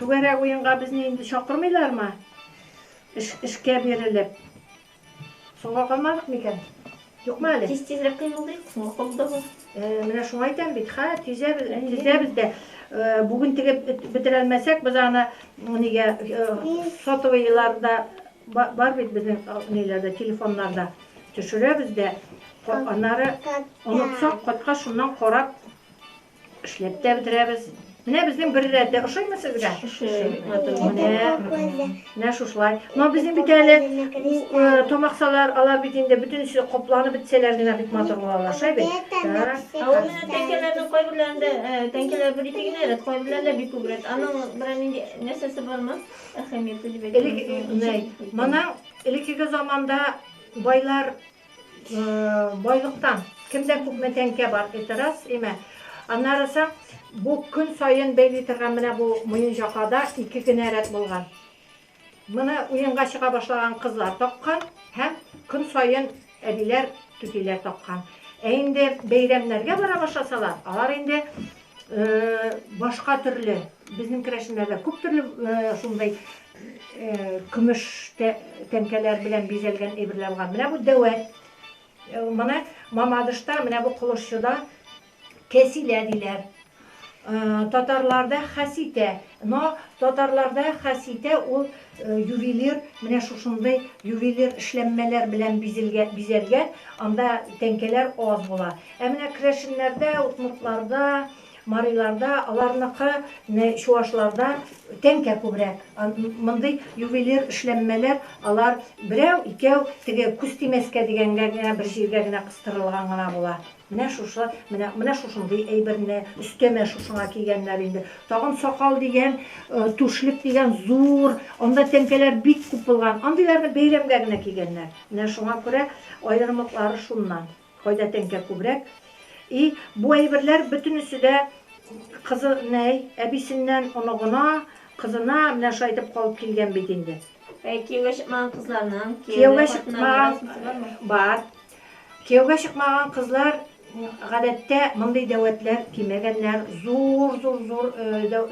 Түгәрәк уенга безне инде чакырмыйлармы? Эш, эшкә бирелеп. Соңга калмадык микән? Юкмы әле? Тиз тизрәк кыймылдыйк, соңга калуда бар. Э, менә шуңа әйтәм бит, ха, тизәбез, тизәбез дә. Э, бүген тегеп бетерәлмәсәк, без аны нигә э, сотовыйларда бар бит безнең ниләрдә, телефоннарда төшерәбез дә. Аннары онытсак, кайткач шуннан карап Эшләп тә бетерәбез. Менә безнең бер рәттә ошыймы сезгә? Менә, менә шушылай. Но безнең бит әле э, тамаксалар, алар бит инде бөтенесе капланып бетсәләр генә бит матур булалар, шәй бит. Так. Ә ул менә тәңкәләрнең кайберләрендә э, тәңкәләр бер ике генә рәт, кайберләрендә бик күп рәт. Аның берәр нинди нәрсәсе бармы? Әһәмияте дип Элек, әйтәм. менә, моның элеккеге заманда байлар Байлыктан. Кемдә күпме тәңкә бар, это раз, имә. Аннары соң бу көн саен бәйли торган менә бу Муенҗакада ике генә рәт булган. Моны уенга чыга башлаган кызлар таккан һәм көн саен әбиләр, түтиләр таккан. Ә инде бәйрәмнәргә бара башласалар, алар инде башка төрле безнең керәшеннәрдә күп төрле шундай көмеш тәңкәләр белән бизәлгән әйберләр бар менә бу дәвәт менә мамадышта менә бу кылышчыда кәсилә диләр татарларда хәситә но татарларда хәситә ул Ювелир менә шушындый ювелир эшләнмәләр белән бизәлгән, анда тәңкәләр аз була. Ә менә керәшеннәрдә, удмуртларда, мариларда, аларныкы чувашларда тәңкә күбрәк. Мондый ювелир эшләнмәләр алар берәү, икәү, теге күз тимәскә дигәнгә генә бер җиргә генә кыстырылган гына була. Менә шушы, менә, менә шушындый әйберне, өстәмә шушыңа кигәннәр инде. Тагын сакал дигән, түшлек дигән зур, анда тәңкәләр бик күп булган. Андыйларны бәйрәмгә генә кигәннәр. Менә шуңа күрә аерымлыклары шуннан. Кайда тәңкә күбрәк. И, бу әйберләр бөтенесе дә кызы, нәй, әбисеннән оныгына, кызына менә шулай итеп калып килгән бит инде. Ә кияүгә чыкмаган кызларның, кияүгә чыкмаган бар. Кияүгә чыкмаган кызлар, гадәттә, мондый дәвәтләр кимәгәннәр, зур-зур-зур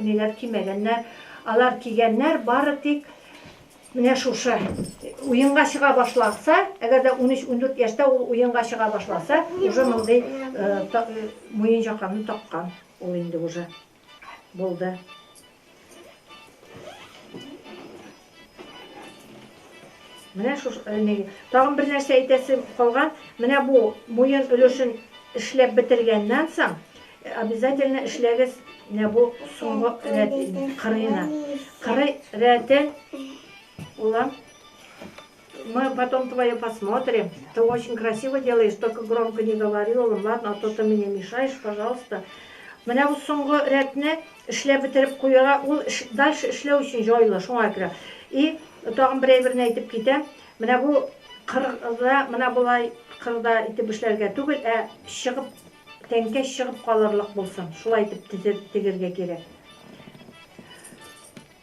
ниләр кимәгәннәр. Алар кигәннәр бары тик менә шушы. Уенга чыга башласа, әгәр дә унөч-ундүрт яшьтә ул уенга чыга башласа, уже мондый муенҗаканы таккан ул инде уже. Булды. Менә шушы э, тагын бер нәрсә әйтәсем калган. Менә бу муен өлешен эшләп бетергәннән соң э, обязательно эшләгез менә бу соңгы рәт кырыена. Кыры рәтен улам Мы потом твое посмотрим. Ты очень красиво делаешь, только громко не говори, улым, ладно, а то ты мне мешаешь, пожалуйста. Менә бу соңгы рәтне эшләп бетереп куярга, ул дальше эшләү өчен җайлы, шуңа күрә. И тагын бер әйберне әйтеп китәм. Менә бу кырда, менә болай кырда итеп эшләргә түгел, ә чыгып тәңкә чыгып калырлык булсын. Шулай итеп тегергә кирәк.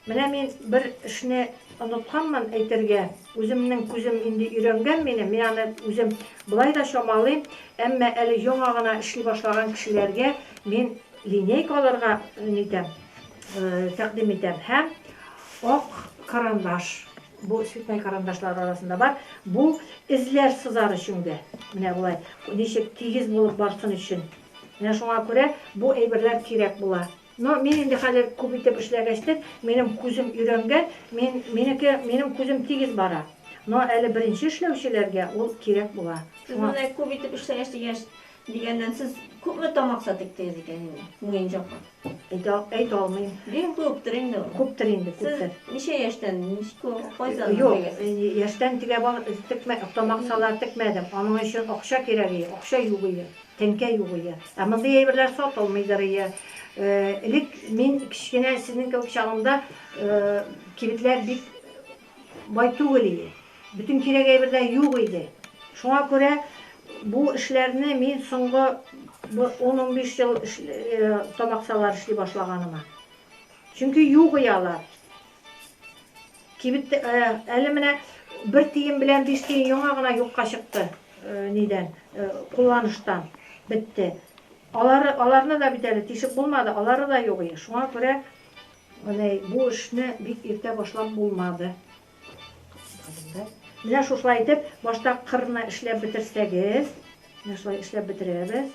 Менә мин бер эшне онытканмын әйтергә, үземнең күзем инде өйрәнгән минем, мин аны үзем болай да чамалыйм, әмма әле яңа гына эшли башлаган кешеләргә мин линейка алырга нитәм, тәкъдим итәм һәм ак карандаш, бу цветной карандашлар арасында бар, бу эзләр сызар өчен дә, менә болай, ничек тигез булып барсын өчен. Менә шуңа күрә бу әйберләр кирәк була. Но мин инде хәзер күп итеп эшләгәчтен, минем күзем өйрәнгән, мин, минеке, минем күзем тигез бара. Но әле беренче эшләүчеләргә ул кирәк була. Сез Шуңа. менә күп итеп эшләгәч дигәч, дигәннән, сез күпме тамакса тектегез икән инде, муенчакка? Әйтә, әйтә алмыйм. Бик күптер инде ул. Күптер инде, Сез күптер. ничә яшьтән, ничек, кайчаннан Юк, тегәсез? яшьтән тегә, тамаксалар текмәдем. Аның өчен акча кирәк иде, акча юк иде. Тәңкә югые. Ә мондый әйберләр сатылмыйдырые. Элек мин кечкенә сезнең кебек чагымда кибетләр бик бай түгел иде. Бөтен кирәк әйбер дә юк иде. Шуңа күрә бу эшләрне мин соңгы бер ун-унбиш ел табаксалар эшли башлаганыма. Чөнки югые алар. Кибет әле менә бер тиен белән биш тиен яңа гына юкка чыкты. Нидән? Кулланыштан бетте. Алары аларны да бит әле тишеп булмады, алары да юк иде. Шуңа күрә менә бу эшне бик иртә башлап булмады. Менә шушылай итеп башта кырны эшләп бетерсәгез, менә шулай эшләп бетерәбез.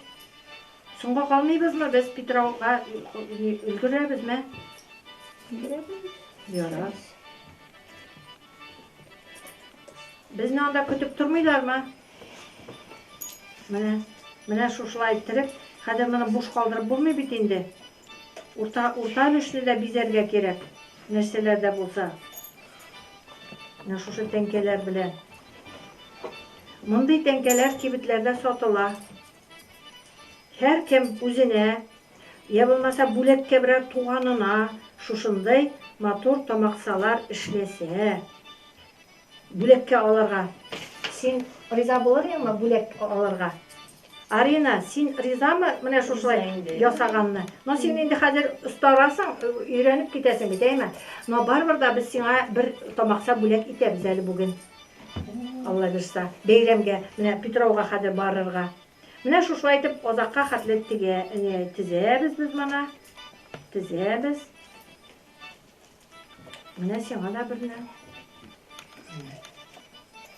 Соңга калмыйбызмы без Питрауга өлгерәбезме? Өлгерәбез. Ярар. Безне анда көтеп тормыйлармы? Менә, менә шушылай иттереп, хәзер моны буш калдырып булмый бит инде. Урта, урта өлешне дә бизәргә кирәк, нәрсәләр дә булса. Менә шушы тәңкәләр белән. Мондый тәңкәләр кибетләрдә сатыла. Һәркем үзенә, йә булмаса бүләккә берәр туганына шушындый матур тамаксалар эшләсә, бүләккә алырга. Син риза булыр идеңме бүләк алырга? Арина, син ризамы менә шушылай ясаганны? Но син инде хәзер остарасың, өйрәнеп китәсең бит, әйеме? Но барыбер дә без сиңа бер тамакса бүләк итәбез әле бүген. Алла бирса, бәйрәмгә менә Питрауга хәзер барырга. Менә шушылай итеп озакка хәтле тегә, не, тезәбез без моны. Тезәбез. Менә сиңа да берне.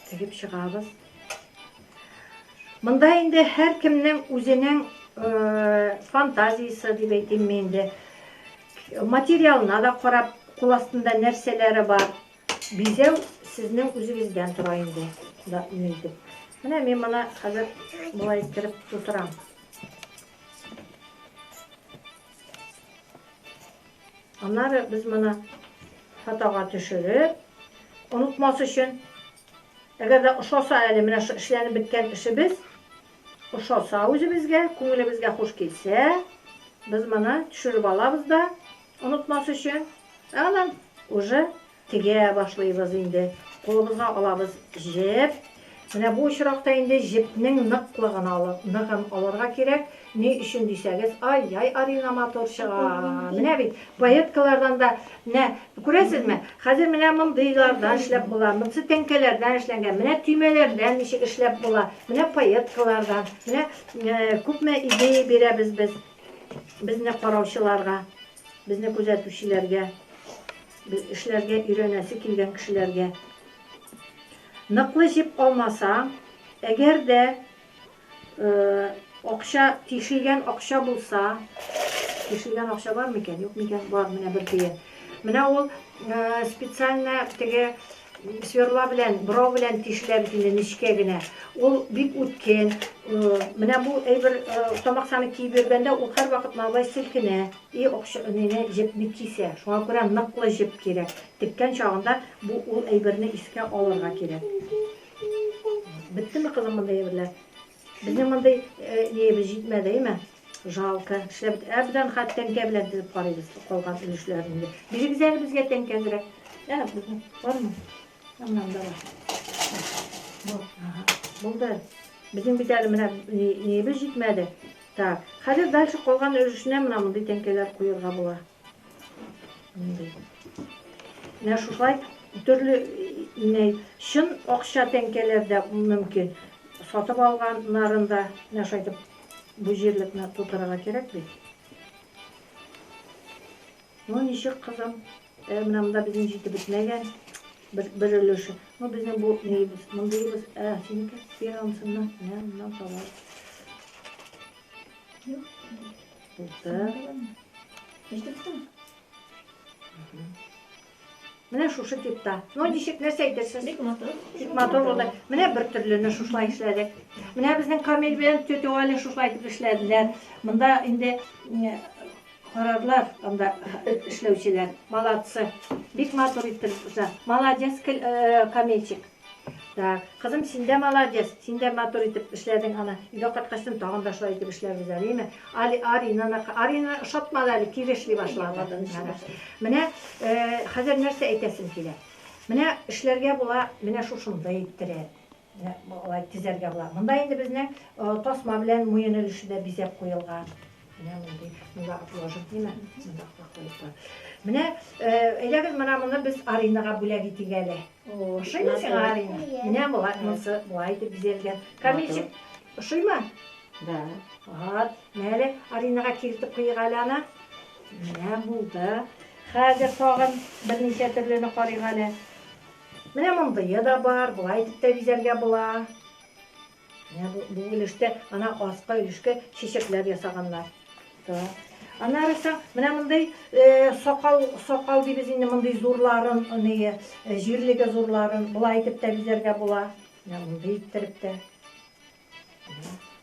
Тегеп чыгабыз. Монда инде һәр кемнең үзенең фантазиясе дип әйтимме инде. Материалына да карап, кул астында нәрсәләре бар. Бизәү сезнең үзегездән тора инде, да ин итеп. Менә мин моны хәзер болай иттереп тутырам. Аннары без моны фотога төшереп, онытмас өчен, әгәр дә ошаса әле менә шу эшләнеп беткән эшебез, ошаса үзебезгә, күңелебезгә хуш килсә, без моны төшереп алабыз да, Онытмас өчен, ә аннан уже тегә башлыйбыз инде. Кулыбызга алабыз җеп. Менә бу очракта инде җепнең ныклыгын алып, ныгын алырга кирәк. Ни өчен дисәгез, ай-яй, Арина матур чыга. Менә бит, поеткалардан да, менә, күрәсезме, хәзер менә мондыйлардан эшләп була, монсы тәңкәләрдән эшләнгән, менә төймәләрдән ничек эшләп була, менә поеткалардан, менә күпме идея бирәбез без. Безне караучыларга, безне күзәтүчеләргә, без эшләргә өйрәнәсе килгән кешеләргә, Ныклы җеп алмасаң, әгәр дә акча, тишелгән акча булса, тишелгән акча бар микән, юк микән, бар, менә бер тиен. Менә ул специально теге Сверла белән, борау белән тишелә бит инде нечкә генә. Ул бик үткен. Менә бу әйбер тамаксаны киеп йөргәндә ул һәрвакыт малай селкенә. И акча нене җепне кисә. Шуңа күрә ныклы җеп кирәк. Теккән чагында бу ул әйберне искә алырга кирәк. Беттеме кызым мондый әйберләр? Безнең мондый ниебез җитмәде, әйме? Жалко. Эшләп бит. Ә бездән хат тәңкә белән тезеп карыйбыз калган өлешләрен инде. Бирегез әле безгә тәңкә кирәк. Ә, безнең бармы? Аннан да бар. Бу, ага. Булды. Безнең бит әле менә ниебез җитмәде. Так. Хәзер дальше калган өлешенә менә мондый тәңкәләр куярга була. Менә шушылай төрле инәй, чын акча тәңкәләр дә мөмкин. Сатып алганнарын да менә шайтып бу җирлекне тутырырга кирәк бит. Ну ничек кызым? Ә менә монда безнең җитеп бетмәгән бер, бер өлеше. Ну безнең бу нибез, мондыйбыз, ә синеке фирансыннан, менә моннан табар. Булды. Менә шушы типта. Ну, ничек нәрсә әйтерсез? Бик матур. Бик матур булды. Менә бер төрлене шушылай эшләдек. Менә безнең Камил белән тетя Валя шушылай итеп эшләделәр. Монда инде карарлар анда эшләүчеләр. Молодцы. Бик матур итеп эшлә. Молодец, э, Камилчик. Так, кызым, син дә молодец, син дә матур итеп эшләдең аны. Өйгә кайткачтын тагын да шулай итеп эшләрбез әле, име? Али, Аринаны, Арина ошатмады әле, тиз эшли башлады. Менә хәзер нәрсә әйтәсем килә. Менә эшләргә була, менә шушында иттереп. Менә алай тезәргә була. Монда инде безнең тасма белән муен өлеше дә бизәп куелган. Менә мондый, монда отложим димә, монда куеп куй. Менә әйдәгез менә моны без Аринага бүләк итик әле. Ошыймы сиңа Арина? Менә болай монсы болай итеп бизәлгән. Камилчик, ошыймы? Да. Вот. Менә әле Аринага киертеп куйыйк әле аны. Менә булды. Хәзер тагын берничә төрлене карыйк әле. Менә мондые да бар, болай итеп тә бизәргә була. Менә бу, бу өлештә ана аска өлешкә чәчәкләр ясаганнар. Да. Аннары соң менә мондый э, сакал, сакал дибез инде мондый зурларын, аны э, җирлеге зурларын болай итеп тә бизәргә була. Менә мондый иттереп тә.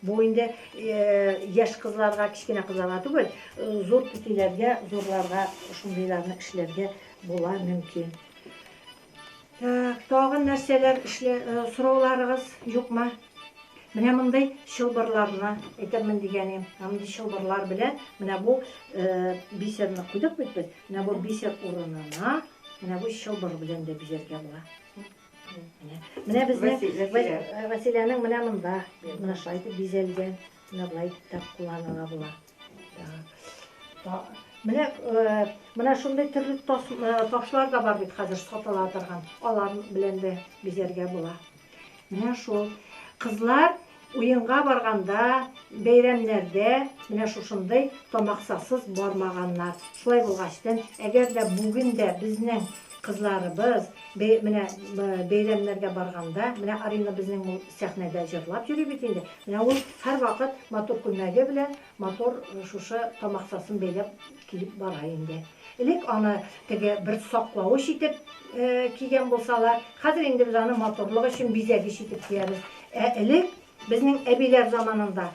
Бу инде э, яшь кызларга, кечкенә кызларга түгел, э, зур түтиләргә, зурларга шундыйларны эшләргә була мөмкин. Тагын нәрсәләр сорауларыгыз юкмы? Менә мондый чылбырларны әйтәмен дигәнем. Менә мондый чылбырлар белән менә бу бисерны куйдык бит без. Менә бу бисер урынына менә бу чылбыр белән дә бизәргә була. Менә безнең Василәнең менә монда, менә шулай итеп бизәлгән. Менә болай итеп тә кулланыла була. Менә менә шундый төрле ташлар да бар бит хәзер сатыла торган. Алар белән дә бизәргә була. Менә шул. Кызлар уенга барганда, бәйрәмнәрдә менә шушындый тамаксасыз бармаганнар. Шулай булгачтын, әгәр дә бүген дә безнең кызларыбыз менә бәйрәмнәргә барганда, менә Арина безнең сәхнәдә җырлап йөри бит инде. Менә ул һәрвакыт матур күлмәге белән матур шушы тамаксасын бәйләп килеп бара инде. Элек аны теге бер саклавыч итеп кигән булсалар, хәзер инде без аны матурлык өчен бизәгеч итеп киябез. Ә элек безнең әбиләр заманында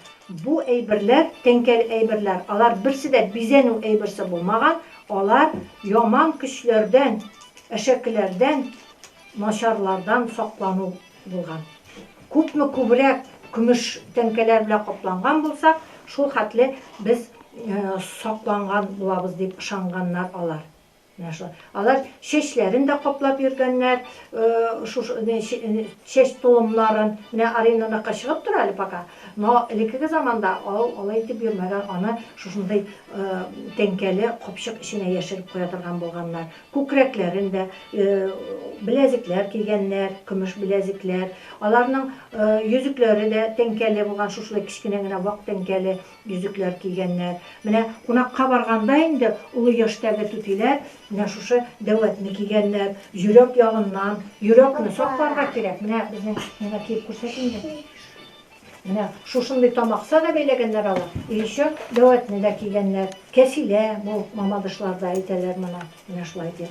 бу әйберләр, тәңкәл әйберләр, алар берсе дә бизәнү әйберсе булмаган, алар яман көчләрдән, әшәкеләрдән, начарлардан саклану булган. Күпме күбрәк көмеш тәңкәләр белән капланган булсак, шул хәтле без сакланган булабыз, дип ышанганнар алар. Менә шулай. Алар чәчләрен дә каплап йөргәннәр, шушы чәч толымнарын. Менә Аринаныкы чыгып тора әле пока, но элеккеге заманда ул алай итеп йөрмәгән, аны шушындый тәңкәле капчык эченә яшереп куя торган булганнар. Күкрәкләрен дә беләзекләр кигәннәр, көмеш беләзекләр. Аларның йөзекләре дә тәңкәле булган, шушылай кечкенә генә вак тәңкәле йөзекләр кигәннәр. Менә кунакка барганда инде олы яшьтәге түтиләр менә шушы дәүәтне кигәннәр, йөрәк ягыннан. Йөрәкне сакларга кирәк. Менә безнең, миңа киеп күрсәт инде. Менә шушындый тамакса да бәйләгәннәр алар, и еще дәвәтне дә кигәннәр, кәфилә бу, мамадышлар да әйтәләр моны, менә шулай ди,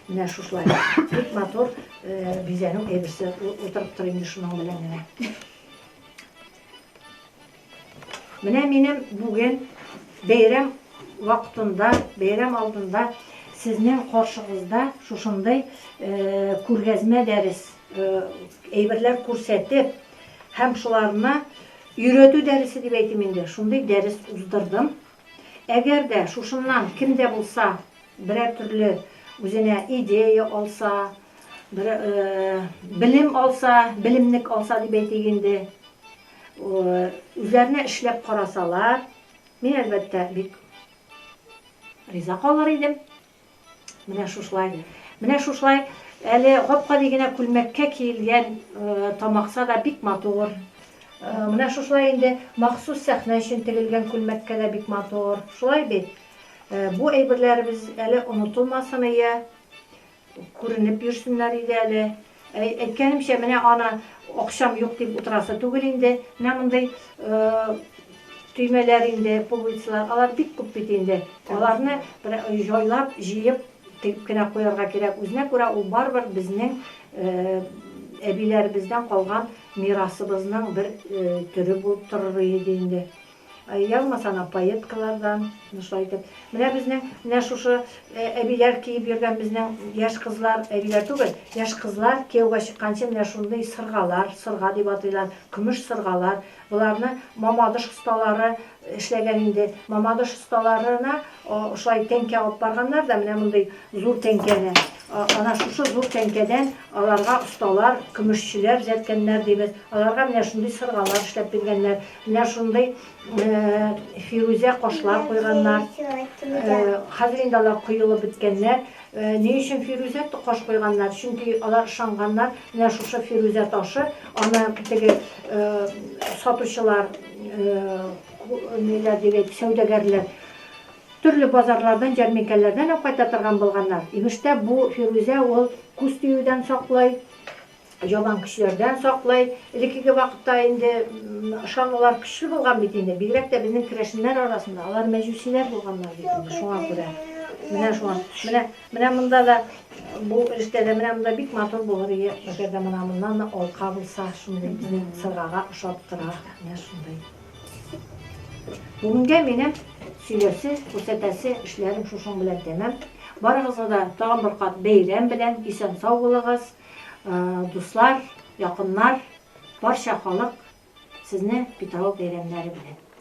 менә шушылай бик матур бизәнү әйберсе утырып тор инде шуның белән генә. Менә минем бүген бәйрәм вакытында, бәйрәм алдында сезнең каршыгызда шушындый күргәзмә дәрес әйберләр күрсәтеп Һәм шуларны өйрәтү дәресе дип әйтим инде, шундый дәрес уздырдым. Әгәр дә шушыннан кем дә булса берәр төрле үзенә идея алса, бер белем алса, белемлек алса дип әйтик инде, үзләренә эшләп карасалар, мин әлбәттә бик риза калыр идем. Менә шушылай. Менә шушылай әле гап-гади генә күлмәккә киелгән тамакса да бик матур. Менә шушылай инде махсус сәхнә өчен тегелгән күлмәккә дә бик матур. Шулай бит? Бу әйберләребез әле онытылмасын иде, күренеп йөрсеннәр иде әле. Әйткәнемчә, менә аны акчам юк дип утырасы түгел инде. Менә мондый төймәләр инде, пуговицалар, алар бик күп бит инде. Аларны бер җайлап, җыеп, тегеп кенә куярга кирәк. Үзенә күрә ул барыбер безнең әбиләребездән калган мирасыбызның бер төре булып торыр иде инде. Ягмас ана поеткалардан, менә шулай итеп. Менә безнең, менә шушы әбиләр киеп йөргән безнең яшь кызлар, әбиләр түгел, яшь кызлар кияүгә чыкканчы менә шундый сыргалар, сырга дип атыйлар, көмеш сыргалар, боларны Мамадыш осталары эшләгән инде. Мамадыш осталарына шулай тәңкә алып барганнар да, менә мондый зур тәңкәне. Ана шушы зур тәңкәдән аларга осталар, көмешчеләр җәткәннәр дибез. Аларга менә шундый сыргалар эшләп биргәннәр. Менә шундый фирүзә кашлар куйганнар. Хәзер инде алар коелып беткәннәр. Ни өчен фирүзә каш куйганнар? Чөнки алар ышанганнар, менә шушы фирүзә ташы, аны теге сатучылар, ниләр дип әйт, сәүдәгәрләр төрле базарлардан, җәрминкәләрдән алып кайта торган булганнар. Имештә бу фирүзә ул күз тиюдән саклый. Ялан көчләрдән саклый. Элеккеге вакытта инде ышанулар көчле булган бит инде. Бигрәк тә безнең керәшеннәр арасында алар мәҗүсиләр булганнар бит инде. Шуңа күрә. Менә шуңа. Менә менә монда да бу эштә дә менә монда бик матур булыр иде. Әгәр дә менә моннан да алка булса, шундый безнең сыргага ошап тора. Менә шундый. Бүгенгә минем сөйләсе, күрсәтәсе эшләрем шушың белән тәмам. Барыгызга да тагын бер кат бәйрәм белән исән-сау булыгыз. Дуслар, якыннар, барча халык сезне Питрау бәйрәмнәре белән!